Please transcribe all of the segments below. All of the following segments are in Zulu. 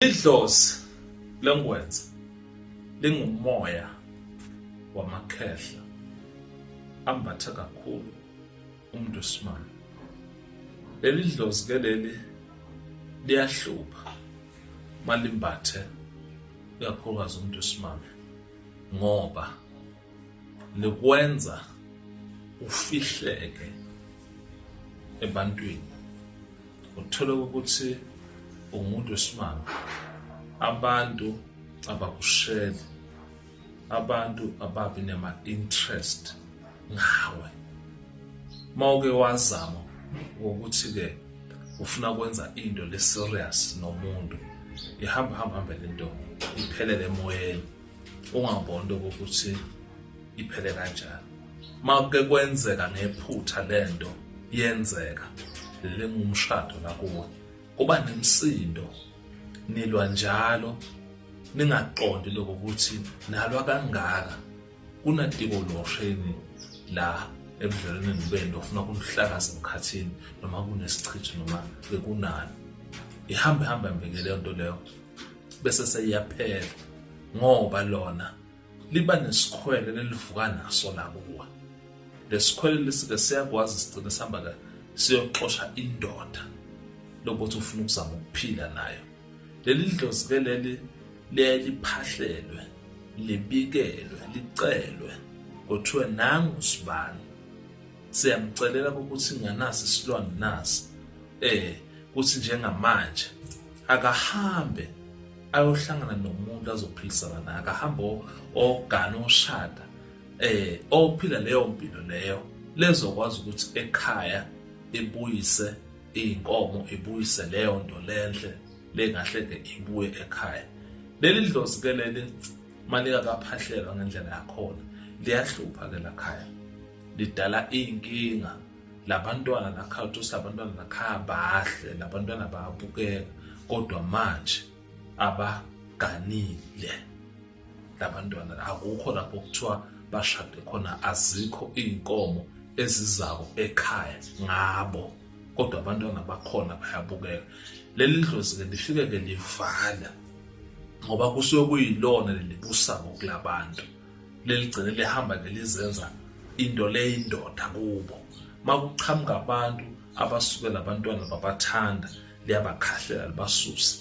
Idlozi lengwenza lingumoya wamakhehla ambatha kakhulu umuntu osimane. Leli dlozi ke leli liyahlupha malimbathe ikakhulukazi umuntu osimame ngoba likwenza ufihleke ebantwini uthole ukuthi umuntu wesimanga abantu abakusheli abantu ababi nema-interest ngawe uma uke wazama ukuthi-ke ufuna kwenza into le-serious nomuntu ihamba hamba hambe le nto iphelele emoyeni ungabonda ukuthi iphele kanjani makuke kwenzeka ngephutha lento yenzeka lengumshado nakuwe kuba nemsindo nilwa njalo ningaqondi lokho ukuthi nalwa kangaka kunadiko losheni la ebudlelwaneni benu ofuna kunihlakaza emkhathini noma kunesichitho noma bekunani ihambe hambe mbeke leyo nto leyo bese seyiyaphela ngoba lona liba nesikhwele lelivuka naso lakuwa lesikhwele lisike siyakwazi sigcine sihamba ka siyoxosha indoda lokuthi ufuna ukuzama ukuphila nayo leli dlozi ke leli liyaye liphahlelwe libikelwe licelwe kuthiwe nangu sibani siyamcelela ukuthi nganasi isilwane nasi eh kuthi njengamanje akahambe ayohlangana nomuntu azophilisana naye akahambe ogana oshada eh ophila leyo mpilo leyo lezokwazi ukuthi ekhaya ibuyise izinkomo ibuyise leyo nto lenhle lengahle ke ibuye ekhaya leli dlozi ke leli malika kaphahlelwa ngendlela yakhona liyahlupha ke lakhaya lidala inkinga labantwana nakhathi usilabantwana nakhaya bahle labantwana bayabukeka kodwa manje abaganile labantwana akukho lapho kuthiwa bashade khona azikho iy'nkomo ezizako ekhaya ngabo kodwa abantwana bakhona bayabukeka leli dlozi-ke lifike-ke livala ngoba kusuke kuyilona lelibusako kulabantu leligcine lihamba ngelizenza into leyindoda kubo makuqhamuka abantu abasuke labantwana babathanda liyabakhahlela libasuse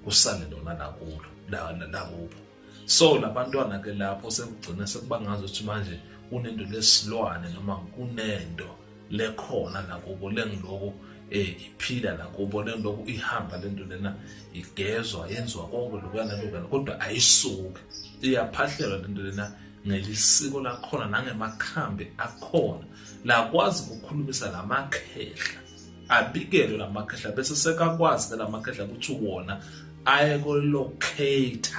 kusale lona lakulo lakubo so labantwana ke lapho sekugcina sekubangazi ukuthi manje kunento lesilwane noma kunento lekhona nakubo lengiloku um eh, iphila nakubo lengiloku ihamba le nto lena igezwa yenziwa konke lokuyana lokuyana kodwa ayisuke iyaphahlelwa le nto lena ngelisiko lakhona nangemakhambi akhona lakwazi ukukhulumisa la makhehla abikelwe la makhehla bese sekakwazi ke la makhehla ukuthi wona aye kolocate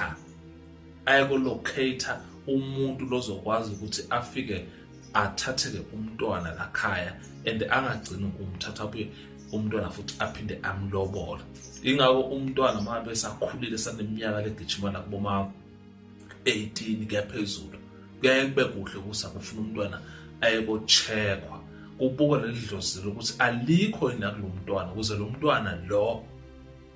ayekolocate umuntu lozokwazi ukuthi afike athatheke umntwana lakhaya and angagcini ukumthatha abuye umntwana futhi aphinde amlobole ingako umntwana uma besakhulile saneminyaka legijima nakuboma 18 kuyaphezulu kuyaye kube kuhle ukuthi akufuna umntwana ayekochekhwa kubukwa leli dlozi lokuthi alikho yini nakulo mntwana ukuze lo mntwana lo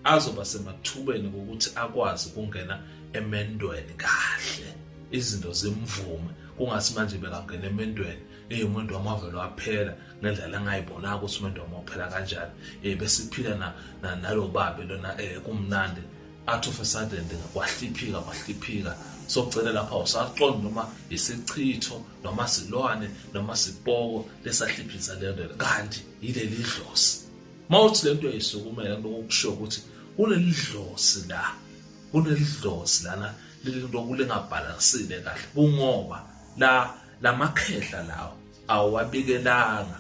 azoba semathubeni ukuthi akwazi ukungena emendweni kahle izinto zimvume kungasi manje bekangena emendweni eh umuntu wamavelo aphela ngendlela engayibonaka ukuthi umuntu wamophela kanjani eh besiphila na nalobabe lona eh kumnandi athi of a sudden kwahliphika kwahliphika socela lapha usaqondi noma isichitho noma silwane noma sipoko lesahliphiza lento kanti yileli dlozi mawuthi lento eyisukumela into okusho ukuthi kuleli dlozi la kuleli dlozi lana lento kulingabhalansile kahle kungoba la lamakhehla lawo awabikelanga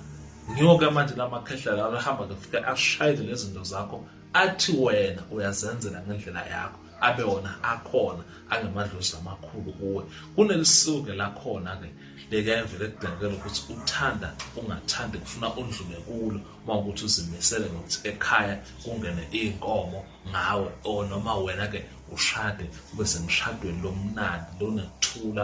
ngiyoke manje lamakhehla lawo ahamba kufika ashayele lezinto zakho athi wena uyazenzela ngendlela yakho abe wona akhona angemadlozi amakhulu kuwe kunelisuke lakhona ke lekayemvele ekubhekela ukuthi uthanda ungathandi kufuna undlume kulo uma ukuthi uzimisele ngokuthi ekhaya kungene iy'nkomo ngawe or noma wena-ke ushade ube semshadweni lomnandi lonekuthula